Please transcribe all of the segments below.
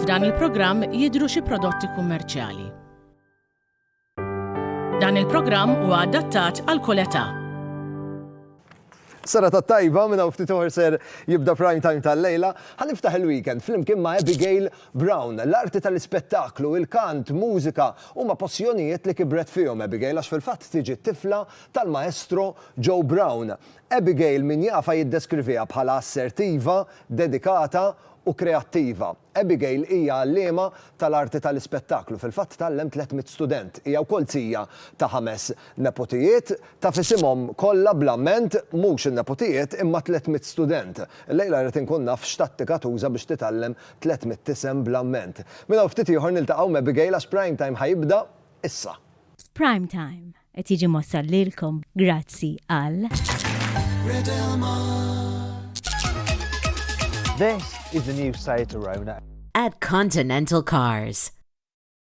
F'dan il-programm jidhru xi prodotti kummerċjali. Dan il-programm huwa adattat għal kull età. Sara ta' tajba minna u ftit ser jibda prime time tal-lejla, ħaniftaħ il-weekend flimkien ma' Abigail Brown. L-arti tal-ispettaklu, il-kant, mużika, huma passjonijiet li kibret fihom Abigail għax fil-fatt tiġi t-tifla tal-maestro Joe Brown. Abigail min jafha jiddeskriviha bħala assertiva, dedikata u kreattiva. Abigail hija għalliema tal-arti tal-ispettaklu, fil-fatt tgħallem 300 student. Hija wkoll zija ta' ħames nepotijiet. Taf isimhom kollha bla mment, mhux in-nepotijiet imma 300 student. Illejla rrid inkun naf x'tattika tuża biex titgħallem Tlett mitt-isem bl-amment. Minn hawn ftit ieħor niltaqgħu m'Abigail għax Prime Time ħa jibda issa. Prime Time qed jiġi mwassal lilkom grazzi għal. This is the new Seat Arona. At Continental Cars.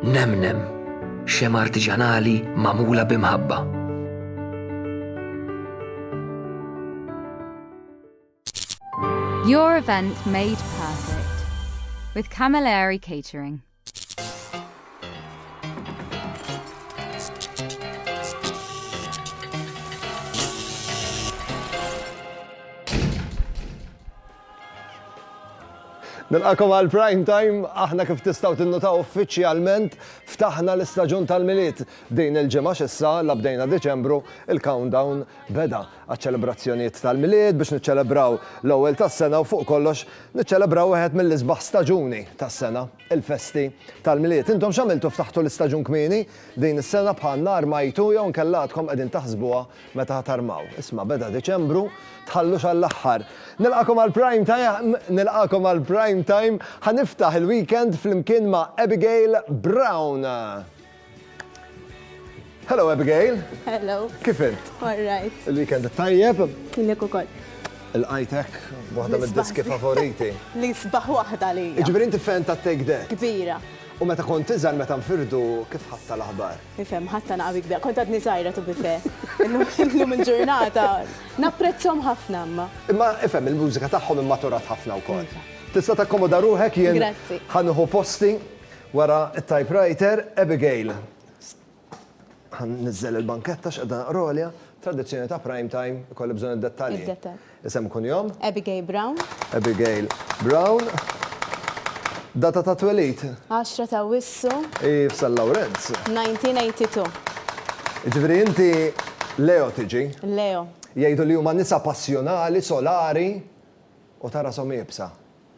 Nemnem, xem artiġanali magħmula b'imħabba. Your event made perfect with Camilleri Catering. Nilqakom għal Prime Time, aħna kif tistgħu tinnutaw uffiċjalment ftaħna l-istaġun tal-Milied. Din il-ġimgħa x'issa la bdejna Diċembru, il-countdown beda għaċ-ċelebrazzjonijiet tal-Milied biex niċċelebraw l-ewwel tas-sena u fuq kollox niċċelebraw wieħed mill-isbaħ staġuni tas-sena. il-festi tal-Milied. Intom x'għamiltu ftaħtu l-istaġun kmieni din is-sena bħalna armajtu jew inkella għadkom qegħdin taħsbuha meta ħa tarmaw. Isma' beda Diċembru, tħallux għall-aħħar. Nilqakom għal Prime Time, nilqakom għal Prime Time, ħa niftaħ il-weekend flimkien ma' Abigail Brown. Hello Abigail. Hello. Kif int? All right. Il-weekend tajjeb. Lek ukoll. Il-qajtek, waħda mid-diski favoriti. Li sbaħ waħda li. Ġifieri inti fan ta' Take That. Kbira. U meta kont tiżgħal meta nfirdu kif ħatta l-aħbar? Ifhem, ħatta naqabi kbira. Kont għadni żgħira tu bife. Illum il-ġurnata napprezzhom ħafna imma. Imma ifhem il-mużika tagħhom immaturat ħafna wkoll. Tista' takkomoda ruħek jien ħanuħu posti Wara t-typewriter, Abigail, ħa nniżżel il-banketta għax qiegħda għolja, tradizzjoni ta' prime time, ikolli bżonn id-dettalji. Id-dettalji. Isem u kunjom? Abigail Brown. Abigail Brown. Data ta' twelid? 10 ta' Awwissu. Hi f'San Lawrenz. 1982. Jiġifieri inti Leo tiġi? Leo. Jgħidu li huma nisa passjonali, solari u ta' rashom iebsa.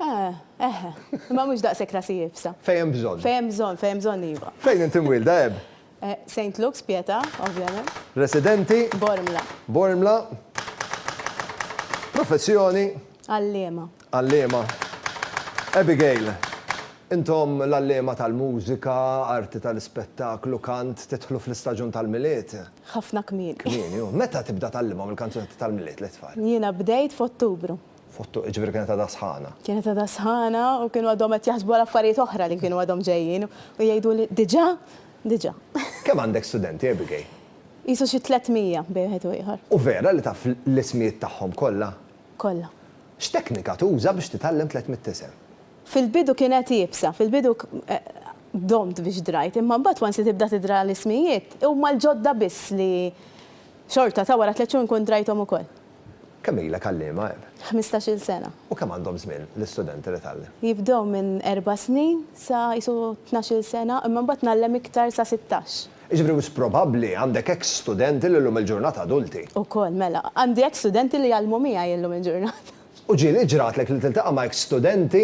Eh, eħe. Imma mhux daqshekk rasi iebsa. Fejn hemm bżonn. Fejn hemm bżonn, fejn hemm bżonn iva. Fejn inti mwielda, Eb? Eh, Saint Luke's, Pietà, ovvjament. Residenti? Bormla. Bormla. Professjoni? Għalliema. Għalliema. Abigail, intom l-għalliema tal-mużika, arti tal-ispettaklu, kant, tidħlu fl-istaġun tal-Milied? Ħafna kmieni. Kmieni, hu. Meta tibda tgħallimhom il-kanzunetti tal-Milied lit-tfal? Jiena bdejt f'Ottubru. Fottu, jiġifieri kienet għadha sħana. Kienet għadha sħana u kienu għadhom qed jaħsbu għal affarijiet oħra li kienu għadhom ġejjin u jgħiduli, Diġà? Diġà. Kemm għandek studenti, Abigail? Qisu xi tliet mija bejn wieħed u ieħor. U vera li taf l-ismijiet tagħhom kollha? Kollha. X'teknika tuża biex titgħallem tliet mitt isem? Fil-bidu kienet iebsa, fil-bidu domt biex drajt, imma mbagħad once li tibda tidra l-ismijiet, huma l-ġodda biss li xorta ta' wara tliet xhur nkun drajthom ukoll. Kemm ilek għalliema, Eb? Ħmistax-il sena. U kemm għandhom żmien l-istudenti li tgħallem? Jibdew minn erba' snin sa qisu tnax-il sena, imma mbagħad ngħallem iktar sa sittax. Jiġifieri wisq probabbli għandek hekk studenti li llum il-ġurnata adulti? Ukoll, mela. Għandi hekk studenti li jgħallmu miegħi llum il-ġurnata. U ġieli ġratlek li tiltaqa' ma' hekk studenti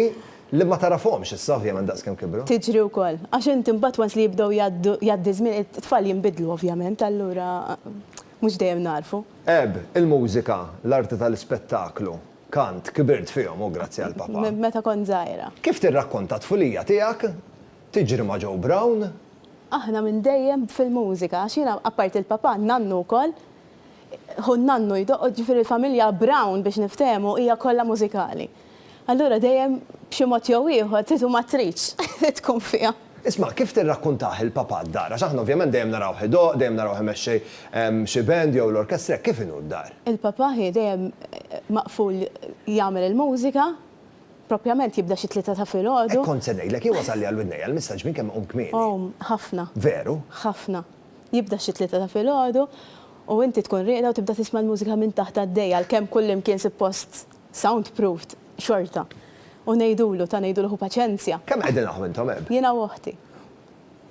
li ma tagħrafhomx issa ovvjament daqskemm kibru? Tiġri wkoll. Għax inti mbagħad once li jibdew jgħaddu, jgħaddi ż-żmien, it-tfal jinbidlu ovvjament, allura. Mhux dejjem nagħrfu. Eb, il-mużika, l-arti tal-ispettaklu, kant, kibirt fihom u grazzi għal Papà. Meta kont żgħira. Kif tirrakkonta t-tfulija tiegħek? Tiġri ma' Joe Brown? Aħna minn dejjem fil-mużika, għax jiena apparti l-Papà, n-nannu wkoll, ħu n-nannu jdoqqod, ġifieri l-familja Brown biex niftehmu hija kollha mużikali. Allura dejjem b'xi mod jew ieħor, trid u ma tridx, tkun fiha. Isma', kif tirrakkuntah il-Papa d-dar? Għax aħna ovvjament dejjem narawh idoqq, dejjem narawh imexxi xi band jew l-orkestra, hekk kif inhu d-dar? Il-Papa hi dejjem maqful jagħmel il-mużika, propjament jibda xi tlieta ta' filgħodu. Hekk kont se ngħidlek, jien wasal li għal widnejja l-missaġġ minn kemm iqum kmieni. O, ħafna. Veru? Ħafna. Jibda xi tlieta ta' filgħodu u inti tkun rieqda u tibda tisma' l-mużika minn taħt għaddejja għalkemm kullimkien suppost Sound proofed xorta. U ngħidulu, ta' ngħidulu hu paċenzja. Kemm qegħdin aħ intom eb? Jiena u oħti.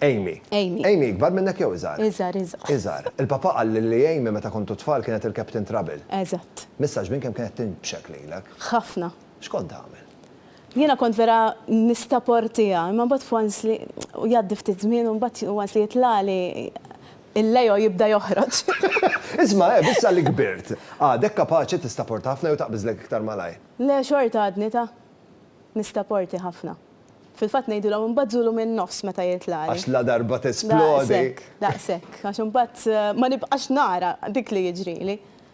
Amy. Amy. Amy ikbar minnek jew iżgħar? Iżgħar, iżgħar. Iżgħar. Il-papà qalli li Amy meta kontu tfal kienet il-captain trouble. Eżatt. Missa xbin kemm kienet tinbxek lilek? Ħafna. X'kont tagħmel? Jiena kont vera nistaportiha, imma mbagħad once li jgħaddi ftit żmien u mbagħad once li jitlagħli il-Leo jibda joħroġ. Isma', Eb, issa li kbirt, għadek kapaċi tistaporta ħafna jew taqbiżlek iktar malajr? Le, xorta għadni ta' nistaporti ħafna. Fil-fatt ngħidilhom inbażżulu min-nofs meta jitlagħli. Għax ladarba tesplodi. Daqshekk, daqshekk, għax imbagħad ma nibqax nara dik li jiġrili.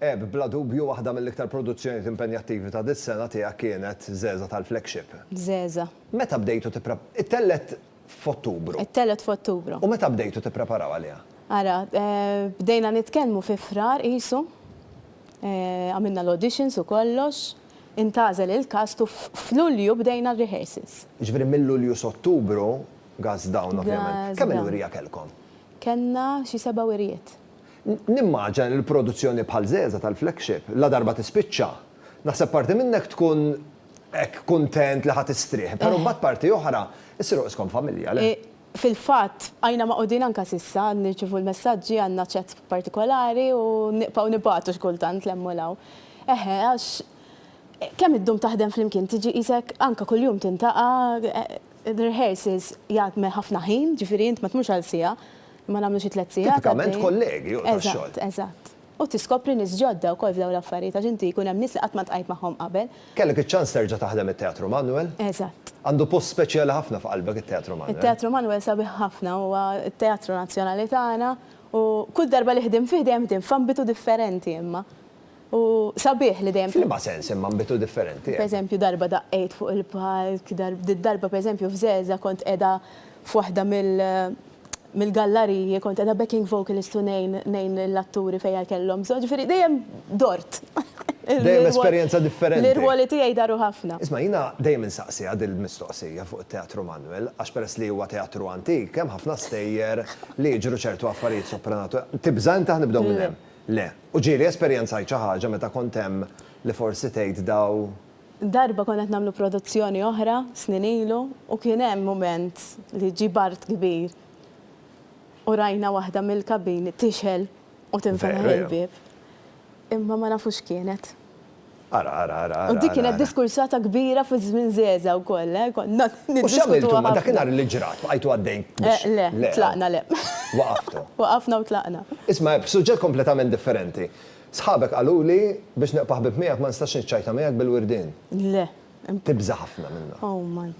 Eb, bla dubju waħda mill-iktar produzzjonijiet impenjattivi ta' dis-sena tiegħek kienet Żgħeżagħ tal-Flagship. Żgħeżagħ. Meta bdejtu tipre. Ittellgħet f'Ottubru. Ittellgħet f'Ottubru. U meta bdejtu tippreparaw għaliha? Ara, bdejna nitkellmu fi Frar qisu. Għamilna l-auditions u kollox. Intgħażel il-cast u f'Lulju bdejna r-rehearsals. Jiġifieri minn Lulju s'Ottubru, Gass Dawn ovvjament. Gass Dawn. Kemm-il wirja kellkom? Kellna xi seba' wirjiet. Nimmaġina li produzzjoni bħal Zeza tal-flagship, ladarba tispiċċa, naħseb parti minnek tkun hekk kuntent li ħa tistrieħ, però mbagħad parti oħra, issiru qiskom familja, le? Fil-fatt, bqajna magħqudin anke s'issa, nirċievu l-messaġġi, għandna ċat partikolari u nibqgħu nibagħtu xi kultant 'l hemm u 'l hawn. Eħe, għax kemm iddum taħdem flimkien tiġi qisek anke kuljum tintaqa', rehearsals jgħadme ħafna ħin, ġifieri int ma tmurx għal siegħa. Ma nagħmlu xi tliet sigħat għaddejjin. Tipikament kollegi u tax-xogħol. Eżatt, eżatt. U tiskopri nies ġodda wkoll f'dawn l-affarijiet għax inti jkun hemm nies li qatt ma ltqajt magħhom qabel. Kellek iċ-ċans terġa' taħdem it-Teatru Manwel? Eżatt. Għandu post speċjali ħafna f'qalbek it-Teatru Manwel. It-Teatru Manwel sabiħ ħafna, huwa t-teatru nazzjonali tagħna u kull darba li ħdimt fih dejjem ħdimt f'ambitu differenti imma. U sabiħ li dejjem. F'liema sens imma nbitu differenti? Pereżempju darba daqqejt fuq il-palk, darba pereżempju f'Żgħeżagħ kont qiegħda f'waħda mill-gallariji, kont qiegħda backing vocalist u ngħin ngħin lill-atturi fejn kellhom bżonn, ġifieri dejjem dort. Dejjem esperjenza differenti. L-irwoli tiegħi daru ħafna. Isma' jiena dejjem insaqsiha dil-mistoqsija fuq it-Teatru Manwel għax peress li huwa teatru antik hemm ħafna stejjer li jiġru ċertu affarijiet sopranatu. Tibża' inti ħa nibdew minn hemm? Le. U ġieli esperjenzajt xi ħaġa meta kont hemm li forsi tgħid daw. Darba konna qed nagħmlu produzzjoni oħra snin ilu u kien hemm mument li ġie bard kbir u rajna waħda mill-kabini tixgħel u tinfetaħ il-bieb. Imma ma nafu x'kienet. Ara, ara, ara, ara. U dik kienet diskursata kbira fi żmien żgħeżagħ ukoll, eh, konna niddiskutuha. U x'għamiltu imma dakinhar li ġrat? Bqajtu għaddejn biex. Le, le, tlaqna, le. Waqaftu. Waqafna u tlaqna. Isma', b'suġġett kompletament differenti. Sħabek qaluli biex nibqa' ħbieb miegħek ma nistax niċċajta miegħek bil-wirdien. Le. Tibża' ħafna minnha. Oh, man.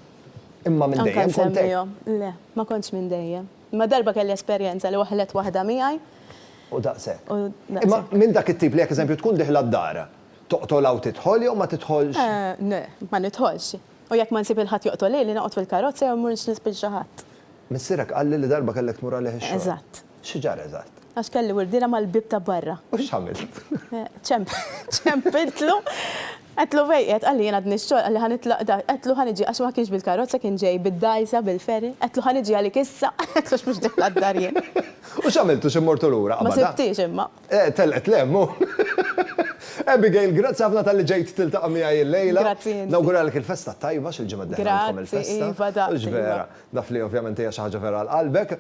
Imma minn dejjem kont hekk. Anke nsemmihom. Le, ma kontx minn dejjem. Imma darba kelli esperjenza li waħħlet waħda miegħi. U daqshekk. U daqshekk. Imma minn dak it-tip li jekk eżempju tkun diħla d-dar, toqtolha u tidħol jew ma tidħolx? Le, ma nidħolx. U jekk ma nsib il-ħadd joqtol lili, noqgħod fil-karozza jew mmur nispiċċa ħadd. Missierek qalli li darba kellek tmur għalih ix-xogħol. Eżatt. Xi ġara eżatt? Għax kelli wirdiela mal-bieb ta' barra. U x'għamilt? Ċempiltlu Għedtlu fej qiegħed, qalli jien għadni x-xogħol, qalli ħa nitlaq da, għedtlu ħa niġi għax ma kienx bil-karozza kien ġej bid-dgħajsa bil-ferry, għedtlu ħa niġi għalik issa, għedtlu għax mhux dieħla d-dar jien. U x'għamiltu xi mortu lura qabada? Ma sibtiex imma. Eh, telqet l-hemm hu. Abigail, grazzi ħafna talli ġejt tiltaqa' miegħi l-lejla. Grazzi inti. Nawguralek il-festa t-tajba xi l-ġimgħa d-dieħla għandkom il-festa. Grazzi iva, daqs iva. U x'vera, naf li ovvjament hija xi ħaġa vera għal qalbek.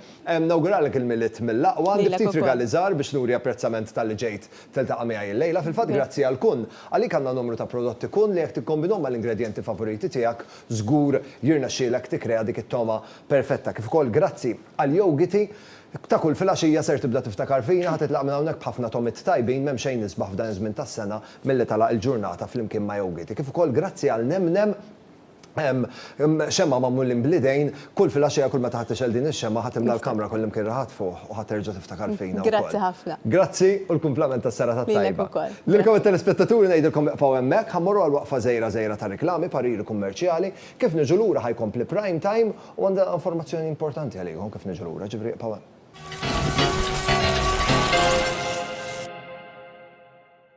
Nawguralek il-Milied mill-aqwa, għandi ftit rigali żgħar biex nuri apprezzament talli ġejt Tiltaqa' miegħi illejla. Fil-fatt grazzi għal Kun, għalik għandna numru ta' prodotti Kun li jekk tikkombinhom mal-ingredjenti favoriti tiegħek żgur jirnexxielek tikkrea dik it-togħma perfetta. Kif ukoll grazzi għall-jowgiti ta' kull filgħaxija ser tibda tiftakar fina, ħa titlaq minn hawnhekk b'ħafna togħmiet tajbin, m'hemm xejn isbaħ f'dan iż-żmien tas-sena milli tagħlaq il-ġurnata flimkien ma' jowgiti. Kif ukoll grazzi għal Nem Nem. Hemm xemgħa magħmulin bl-idejn, kull filgħaxija kull meta ħa tixgħel din ix-xemgħa ħa timla l-kamra kullimkien raħat fuħ u ħa terġa' tiftakar fina wkoll. Grazzi ħafna. Grazzi u l-kumplament tas-serata t-tajba. Lilek ukoll. Lilkom it-telespettaturi ngħidilkom iqfgħu hemmhekk, ħa mmorru għal waqfa żgħira żgħira ta' riklami, pariri kummerċjali, kif niġu lura ħa jkompli Prime Time u għandi informazzjoni importanti għalikom kif niġu lura, ġifieri iqfgħu hemm.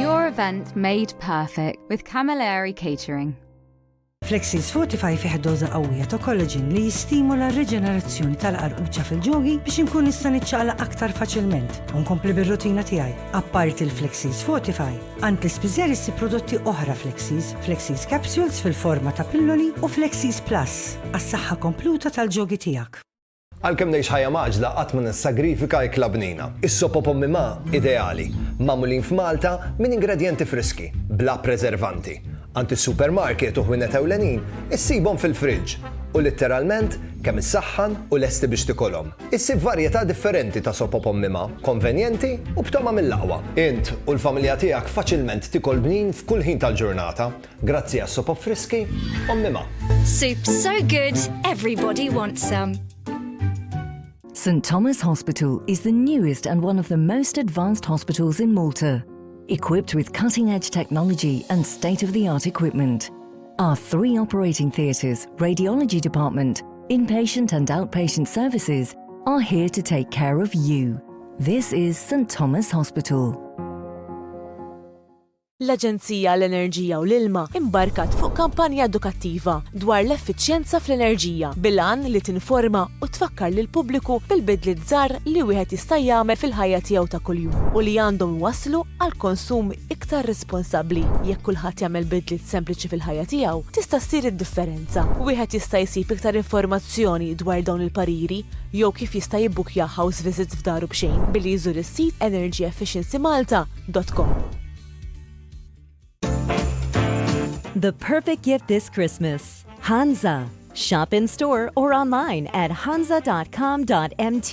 Your event made perfect with Camilleri Catering. Flexis Fortify fih doza qawwija ta' kollaġin li jistimula r-reġenerazzjoni tal-qarquċa fil-ġogi biex inkun nista' niċċaqla aktar faċilment u nkompli bir-rutina tiegħi. Apparti l-Flexis Fortify, Antis Bizer issib prodotti oħra Flexies, Flexies Capsules fil-forma ta' pilloli u Flexies Plus għas-saħħa kompluta tal-ġogi tiegħek. Għalkemm ngħix ħajja mgħaġġla qatt ma nissagrifika ikla bnina. Is-sop u pommi ma' ideali, magħmulin f'Malta minn ingredjenti friski, bla preservanti. Għand is-supermarket u ħwienet ewlenin issibhom fil-friġġ u litteralment kemm issaħħan u lesti biex tikolhom. Issib varjetà differenti ta' sopop ommima, konvenjenti u b'togħma mill-aqwa. Int u l-familja tiegħek faċilment tikol bnin f'kull ħin tal-ġurnata grazzi għas-sopop friski ommima. Soup so good, everybody wants some. St Thomas Hospital is the newest and one of the most advanced hospitals in Malta. Equipped with cutting-edge technology and state-of-the-art equipment. Our three operating theatres, radiology department, Inpatient and outpatient services are here to take care of you. This is St Thomas Hospital. L-Aġenzija għall-Enerġija u l-Ilma imbarkat fuq kampanja edukattiva dwar l-effiċjenza fl-enerġija bil-għan li tinforma u tfakkar lil pubbliku bil-bidliet żgħar li wieħed jista' jagħmel fil-ħajja tiegħu ta' kuljum u li għandhom iwasslu għal konsum iktar responsabbli. Jekk kulħadd jagħmel bidliet sempliċi fil-ħajja tiegħu, tista' ssir id-differenza. Wieħed jista' jsib iktar informazzjoni dwar dawn il-pariri jew kif jista' jibbukkja house visit f'daru b'xejn billi jżur is-sit energyefficiencymalta.com. The perfect gift this Christmas. Hansa. Shop in store or online at hansa.com.mt.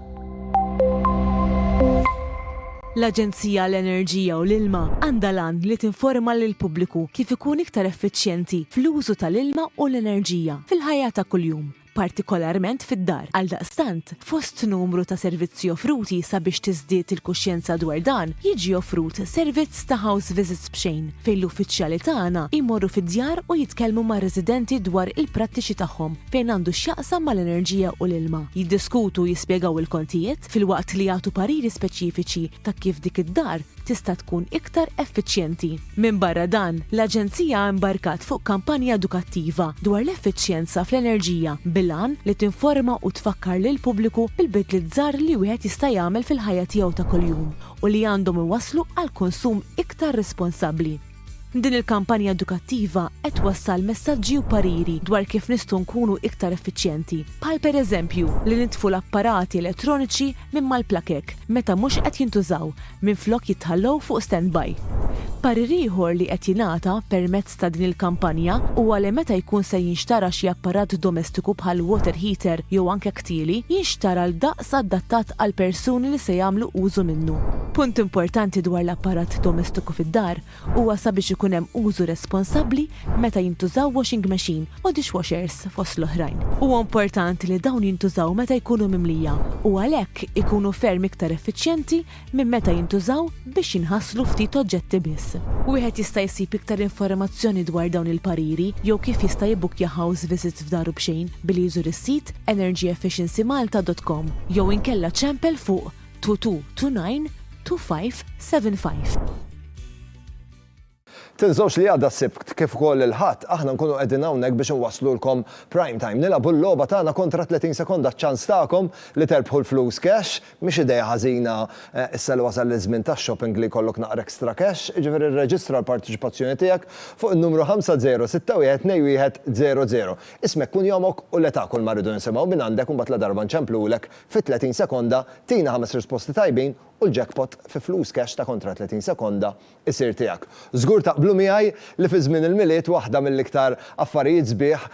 L-Aġenzija għall-Enerġija u l-Ilma għandha l-għan li tinforma lill-pubbliku kif ikun iktar effiċjenti fl-użu tal-ilma u l-enerġija fil-ħajja ta' kuljum, partikolarment fid-dar. Għaldaqstant, fost numru ta' servizzi offruti sabiex tiżdied il-kuxjenza dwar dan, jiġi offrut servizz ta' house visits b'xejn, fejn l-uffiċjali tagħna jmorru fid-djar u jitkellmu mar-residenti dwar il-prattiċi tagħhom, fejn għandu x'jaqsam mal-enerġija u l-ilma, jiddiskutu u jispjegaw il-kontijiet filwaqt li jagħtu pariri speċifiċi ta' kif dik id-dar tista' tkun iktar effiċjenti. Minbarra dan, l-Aġenzija imbarkat fuq kampanja edukattiva dwar l-effiċjenza fl-enerġija bil-għan li tinforma u tfakkar lill-pubbliku bil-bidliet żgħar li wieħed jista' jagħmel fil-ħajja tiegħu ta' kuljum u li għandhom iwasslu għal konsum iktar responsabbli. Din il-kampanja edukattiva qed twassal messaġġi u pariri dwar kif nistgħu nkunu iktar effiċjenti, bħal pereżempju li nitfu l-apparati elettroniċi minn mal-plakek meta mhux qed jintużaw minflok jitħallow fuq standby. Parir ieħor li qed jingħata permezz ta' din il-kampanja huwa li meta jkun se jinxtara xi apparat domestiku bħal water heater jew anke tattili jinxtar għal daqs adattat għall-persuni li se jagħmlu użu minnu. Punt importanti dwar l-apparat domestiku fid-dar huwa sabiex ikun hemm użu responsabbli meta jintużaw washing machine u dishwashers fost l-oħrajn. Huwa importanti li dawn jintużaw meta jkunu mimlija u għalhekk ikunu ferm iktar effiċjenti minn meta jintużaw biex jinħaslu ftit oġġetti biss. Wieħed jista' jsib iktar informazzjoni dwar dawn il-pariri jew kif jista' jibbukkja house visits f'daru b'xejn billi jżur is-sit energyefficiencymalta dot com jew inkella ċempel fuq 22 29 25. Tinsewx li għada s-Sibt kif ukoll il-Ħadd aħna nkunu qegħdin hawnhekk biex inwasslulkom Prime Time. Nilagħbu l-logħba tagħna kontra 30 sekonda ċ-ċans tagħkom li terbħu l-flus cash. Mhix idea ħażina issa li wasal iż-żmien tax-shopping li jkollok naqra extra cash. Jiġifieri rreġistra l-parteċipazzjoni tiegħek fuq in-numru 50612100. Ismek, kunjomok u l-età kulma rridu nisimgħu minn għandek u mbagħad ladarba nċemplulek fi 30 sekonda tina ħames risposti tajbin u l-jackpot fi flus cash ta' kontra 30 sekonda isir tiegħek. Żgur taqblu miegħi li fi żmien il-Milied waħda mill-iktar affarijiet sbieħ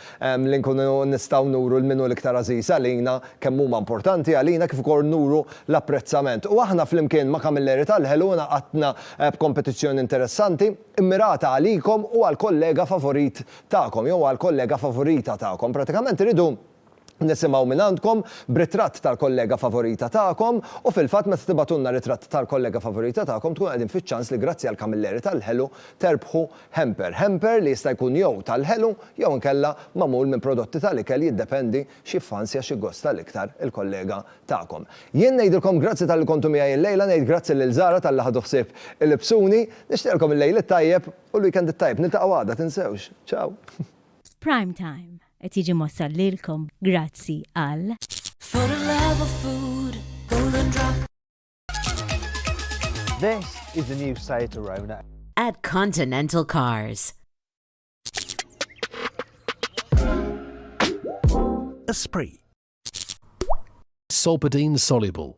li nkunu nistgħu nuru lil min hu l-iktar għażiż għalina kemm huma importanti għalina kif ukoll nuru l-apprezzament. U aħna flimkien ma' Kamilleri tal-Ħeluna għadtna b'kompetizzjoni interessanti, immirata għalikom u għall-kollega favorit tagħkom jew għall-kollega favorita tagħkom. Pratikament irridu. nisimgħu mingħandkom b'ritratt tal-kollega favorita tagħkom u fil-fatt meta tibagħtulna ritratt tal-kollega favorita tagħkom tkunu qegħdin fiċ-ċans li grazzi għal Camilleri tal-Ħelu terbħu hamper. Hamper li jista' jkun jew tal-ħelu jew inkella magħmul minn prodotti tal-ikel jiddependi x'jiffansja x'jiggosta l-iktar il-kollega tagħkom. Jien ngħidilkom grazzi talli kontu miegħi illejla ngħid grazzi lil Zara talli ħadu ħsieb ilibsuni. Nixtieqilkom il-lejl it-tajjeb u l-weekend it-tajjeb. Niltaqgħu għada tinsewx. Ciao! F'Prime Time. Qed jiġi mwassal lilkom grazzi għal. For the love of food, golden drop. This is the new Seat Arona. At Continental Cars. Esprit. Solpadeine soluble.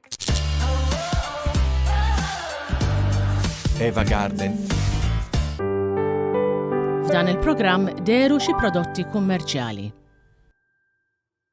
Eva Garden. F'dan il-programm deru xi prodotti kummerċjali.